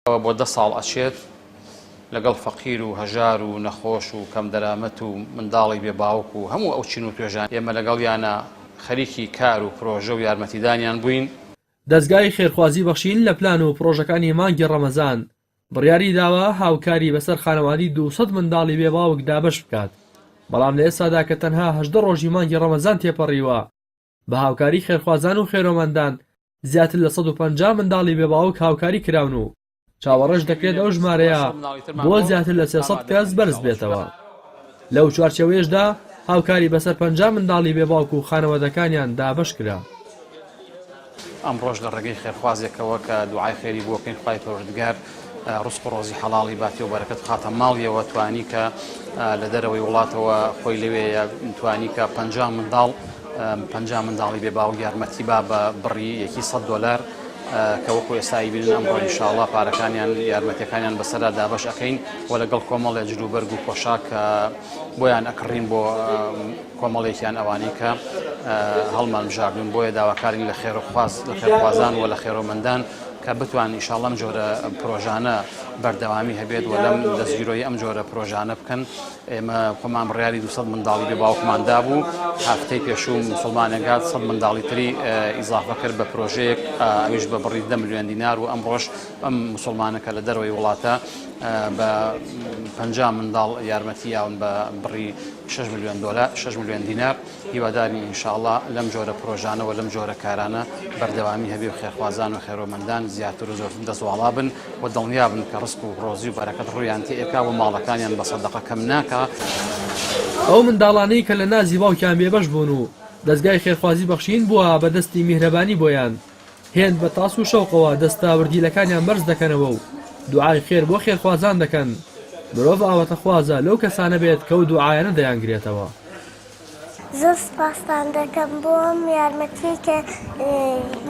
ئەوە بۆ دە ساڵ ئەچێت لەگەڵ فەقیر و هەژار و نەخۆش و کەم دەرامەت و منداڵی بێ باوک و هەموو ئەو چین و توێژان ئێمە لەگەڵیانا خەریکی کار و پرۆژە و یارمەتیدانیان بووین. دەزگای خێرخوازی بەخشین لە پلان و پرۆژەکانی مانگی ڕەمەزان بڕیاری داوە هاوکاری بەسەر خانەوادی دوو سەد منداڵی بێ باوک دابەش بکات، بەڵام لە ئێستادا کە تەنها هەژدە ڕۆژی مانگی ڕەمەزان تێپەڕیوە، بە هاوکاری خێرخوازان و خێرۆمەندان، زیاتر لە سەد و پەنجا منداڵی بێ باوک هاوکاری کراون و چاوەڕێش دەکرێت ئەو ژمارەیە بۆ زیاتر لە سێ سەد کەس بەرز بێتەوە. لەو چوارچێوەیەشدا هاوکاری بەسەر پەنجا منداڵی بێ باوک و خانەوەدەکانیان دابەش کرا. ئەمڕۆش لە ڕێگەی خێرخوازێکەوە کە دوعای خێری بۆ بکەین خوای پەروەردگار ڕزق و ڕۆزی حەڵاڵی باتی و بەرەکەت بخاتە ماڵیەوە توانی کە لە دەرەوەی وڵاتەوە خۆی لەوێیە توانی کە پ منداڵ پ منداڵی بێ باو یارمەتی با بە بڕی یەکی سە دلار کە وەکو ئێستایی بینن ئەمڕۆ انشاءله پارەکانیان یارمەتەکانیان بەسەرا دابش ئەەکەین و لەگەڵ کۆمەڵێ جلوبەرگ و پۆشاک بۆیان ئەکڕین بۆ کۆمەڵێکیان ئەوانی کە هەڵمان بژاردون بۆیە داواکارین لە خێرخواز لە خێرخوازان و لە خێرۆمەندان کە بتوان ئیشاڵ ئەم جۆرە پرۆژانە بەردەوامی هەبێت و لەم دەستگیرۆی ئەم جۆرە پرۆژانە بکەن ئێمە خۆمان بڕیاری دو منداڵی بێ باوکماندا بوو هەفتەی پێشوو مسلمانێکات سە منداڵی تری ئیزافە کرد بە پرۆژەیەک ئەویش بە بڕی دە میلیۆن دینار و ئەم ڕۆژ ئەم مسلمانەکە لە دەرەوەی وڵاتە بە پ منداڵ یارمەتی یاون بە بڕی 6 میلیۆن دلار 6 میلیۆن دینار هیوادارین ان شاءاللە لەم جۆرە پرۆژانە و لەم جۆرە کارانە بەردەوامی هەبێ و خێرخوازان و خێرۆمەندان زیاتر و زۆرتر دەست واڵا بن و دڵنیا بن کە ڕسق و ڕۆزی و بەرەکەت ڕوویان تێ ئەکا و ماڵەکانیان بە سەدەقە کەم ناکا. ئەو منداڵانەی کە لە نازی باوکیان بێبەش بوون و دەزگای خێرخوازی بەخشین بووە بە دەستی میهرەبانی بۆیان، هێند بە تاس و شەوقەوە دەستاوردیلەکانیان بەرز دەکەنەوە و دوعای خێر بۆ خێرخوازان دەکەن، مرۆڤ ئاواتەخوازە لەو کەسانە بێت کەو دوعایانە دەیانگرێتەوە. زۆر سوپاستان دەکەم بۆ ئەم یارمەتیەی کە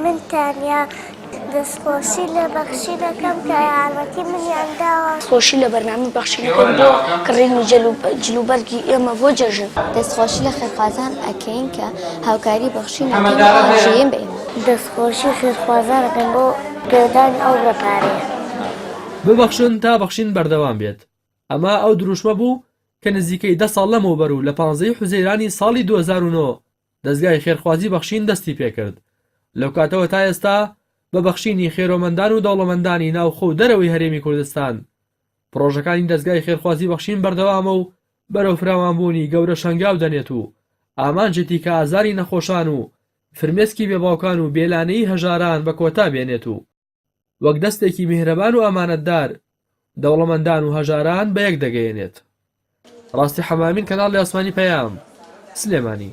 من تانیا دەستخۆشی لە بەخشی دەکەم کە یارمەتی منیان داوە. دەستخۆشی لە بەرنامەی بەخشی دەکەم بۆ کڕینی جلوبەرگی ئێمە بۆ جەژن. دەستخۆشی لە خێرخوازان ئەکەین کە هاوکاری بەخشی ناکەن و هاوژین بە ئێمە. دەستخۆشی خێرخوازان ئەکەم بۆ پێدانی ئەو رێکارەیە. ببەخشن تا بەخشین بەردەوام بێت. ئەمە ئەو دروشمە بوو کە نزیکەی دە ساڵ لەمەوبەر و لە پانزە ی حوزەیرانی ساڵی دوو هەزار و نۆ دەزگای خێرخوازی بەخشین دەستی پێکرد، لەو کاتەوە تا ئێستا بە بەخشینی خێرۆمەندان و دەوڵەمەندانی ناوخۆ و دەرەوەی هەرێمی کوردستان پڕۆژەکانی دەزگای خێرخوازی بەخشین بەردەوامە و بەرەو فراوانبوونی گەورە شەنگاو دەنێت و ئامانجێتی کە ئازاری نەخۆشان و فرمێسکی بێباوکان و بێلانەیی هەژاران بە کۆتا بێنێت و وەک دەستێکی میهرەبان و ئەمانەتدار دەوڵەمەندان و هەژاران بەیەک دەگەیەنێت. ڕاستی حەمامین کەناڵی ئاسمانی پەیام، سلێمانی.